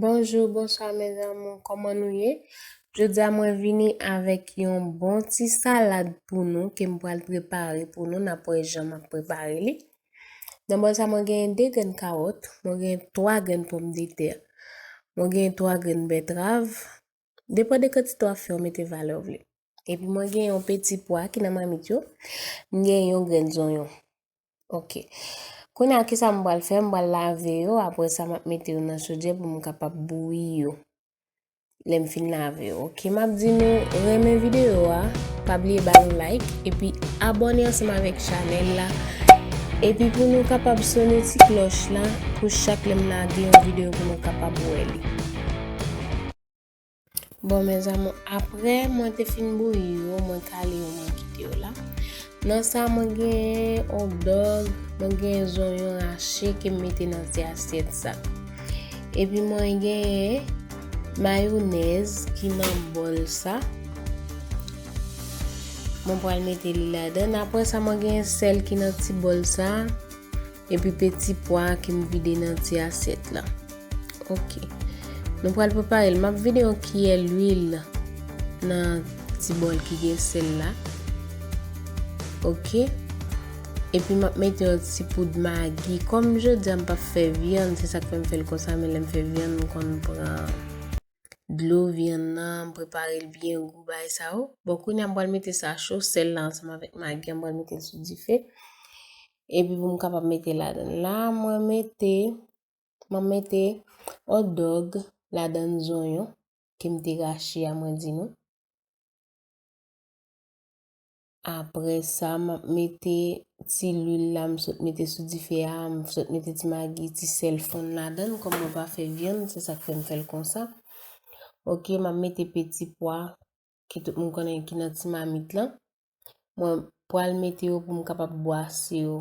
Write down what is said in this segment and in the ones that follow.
Bonjou bonswa mes amour kòman nou ye jodia mwen vini avèk yon bon ti salad pou nou ke m pral prepare pou nou nap wè jan map prepare li nan bòl sa mwen gen 2 grenn kawòt mwen gen 3 grenn pòm de tè mwen gen 3 grenn bètrav Depan de kantite wap fè ou mete valè ou vle. Epi mwen gen yon peti pwa ki nan mamit yo, m gen yon grenn zonyon. Ok. Kounye a kisa m pral fè? M pral lave yo, apre sa map mete yo nan chodyè pou m kapab bouyi yo. Lè m fin lave yo. Ok, map di nou renmen video a, pa bliye ba nou like, epi abone ansanm avèk chanèl la. Epi pou nou kapab sone ti klòch la, pou chak lè m lage yon video pou nou kapab wè li. Bon mes amour aprè mwen te fin bouyi yo mwen kale yo mwen kite yo la nan sa mwen gen on dog mwen gen zonyon rache ke m mete nan ti asyèt sa epi mwen gen mayonèz ki nan bol sa mwen pral mete li ladan aprè sa mwen gen sèl ki nan ti bol sa Epi peti pwa a ke m vide nan ti asyèt la. Ok. Nou pral prepare l. M ap vide yon kiyè luil nan ti bòl ki gen sèl la. Ok. Epi m ap mete yon ti poud magi. Kòm jodi a m p ap fè vyann, se sa k fè m fè l konsa. Men lè m fè vyann, m konn pran dlo vyann nan, m prepare l byen gou bagay sa yo. Bon, kounye a m pral mete sa cho, sèl la ansanm avèk magi a m pral mete l sou dife. Epi pou m kapab mete ladan la, mwen mete, mwen mete hot dog ladan zonyon ke m te rache a mwen di nou. Apre sa m ap mete ti lwil la m sot mete sou dife a, m sot mete ti magi, ti sèl fonn ladan kòm mwen pa fè vyann se sa k fè m fè l konsa. Ok m ap mete peti pwa ki tout moun konnen ki nan ti mamit lan. Mwen pral mete yo pou m kapab bwase yo.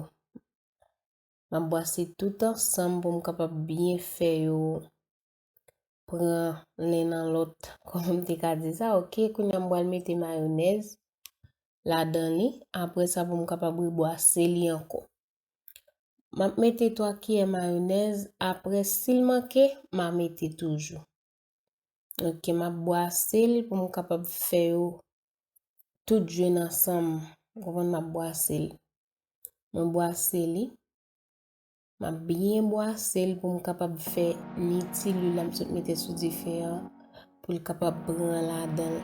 Mwen bwase tout ansanm pou m kapab byen fè yo pran len nan lòt. Kon m te ka di sa, ok, koun ya m pral mete mayonèz la dan li. Apre sa pou m kapab rebwase li ankò. Mwen mete 3 kiyè mayonèz, apre sil manke, mwen mete toujou. Ok, m ap bwase l pou m kapab fè yo tout jwenn ansanm. Ou konprann m ap bwase l. Mwen bwase li. M ap byen bwase l pou m kapab fè ni ti lwil la m sot mete sou dife a pou l kapab pran ladan l.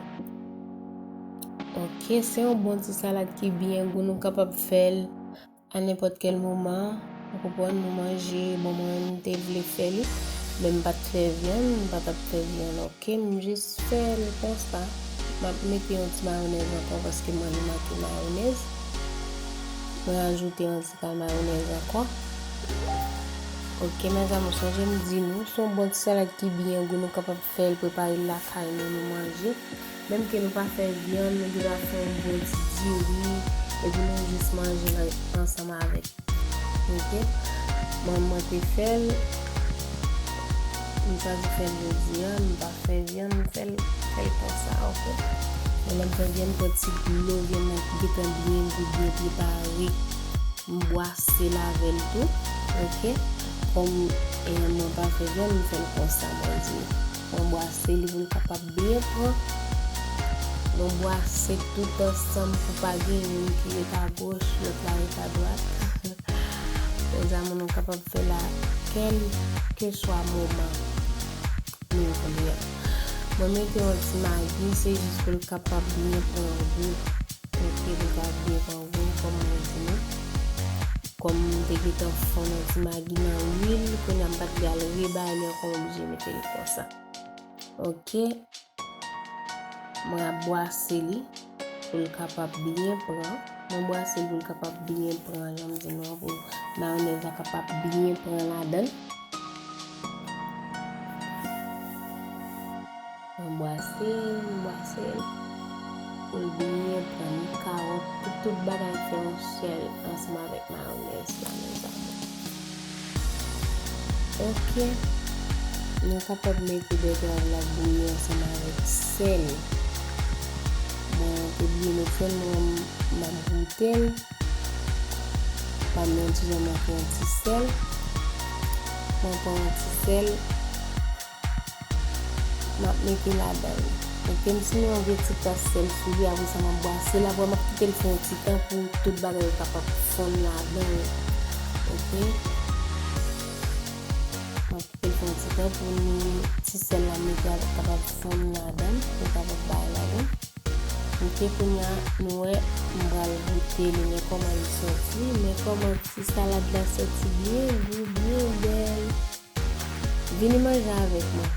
Ok, se yon bon ti salad ki byen gou nou kapab fè l. A nenpòt kèl moman, ou konprann, nou manje, bon mwen menm m te vle fè li, men m pa t fè vyann, m pa t ap fè vyann oke, m jis fè l konsa, m ap mete yon ti mayonèz ankò paske mwen li manke mayonèz, m rajoute yon ti pay mayonèz ankò, oke mèzanmi ou sonje m di nou, s on bon ti salad ki byen gou nou kapab fè l, prepare l lakay nou, nou manje. Menm ke nou pa fè vyann nou gendwa fè yon bon ti diri epi nou jis manjel ansanm avèk ok manman te fèl m chwazi fèl jodia m pa fè vyann m fèl fèl konsa ok men lèm fè vyann m pran ti dlo vyann nan ki gentan byen gou byen prepare m bwasel avèl tou ok kòm mwen pa fè vyann m fèl konsa mwen di mwen bwasel poul kapab. Byen pran Yon bwase tout ansanm pou pa gen youn ki ret a goch lòt la ret a dwat Fè zanmi nou kapab fè la kèlkeswa moman nou vle an Mwen mete yon ti magi se jis pou l kapab byen pran gou ok li va byen pran gou kòm mwen di nou Kòm m te gentan fonn yon ti magi nan lwil kounya m pa t pral rebale ankò m oblije mete l konsa. Ok. Mwen ap bwase li pou l kapab byen pran. Mwen bwase li pou l kapab byen pran jan m di nou an pou mayonèz la kapab byen pran ladan l. Mwen bwase l, mwen bwase l pou l byen pran ni kawòt pou tout bagay fè yon sèl ansanm avèk mayonèz la mezanmi. Ok Nou kapab mete bètrav la bouyi ansanm avèk sèl Mwen te bliye met sèl men map goutel Pam nan kijan mwen fè yon ti sèl Mwen pran yon ti sèl Map mete ladanl. Ok m simen yon vye ti tas sèl sou li apresa map bwasel aprè map kitel fè yon ti tan pou tout bagay yo kapab fonn ladanl ok map kitel fè yon ti tan pou ti sèl la m mete a kapab fonn ladanl li kapab bay ladanl ok kounya nou wè m pral goute li men kòman li sòti men kòman ti salad la sòti byen gou byen bèl. Vini manje avèk mwen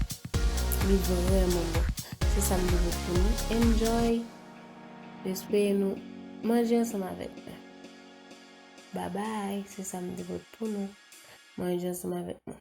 li vrèman bon se sam te vle pou nou enjoy espere nou manje ansanm avèk mwen babay se sam te vle pou nou manje ansanm avèk mwen.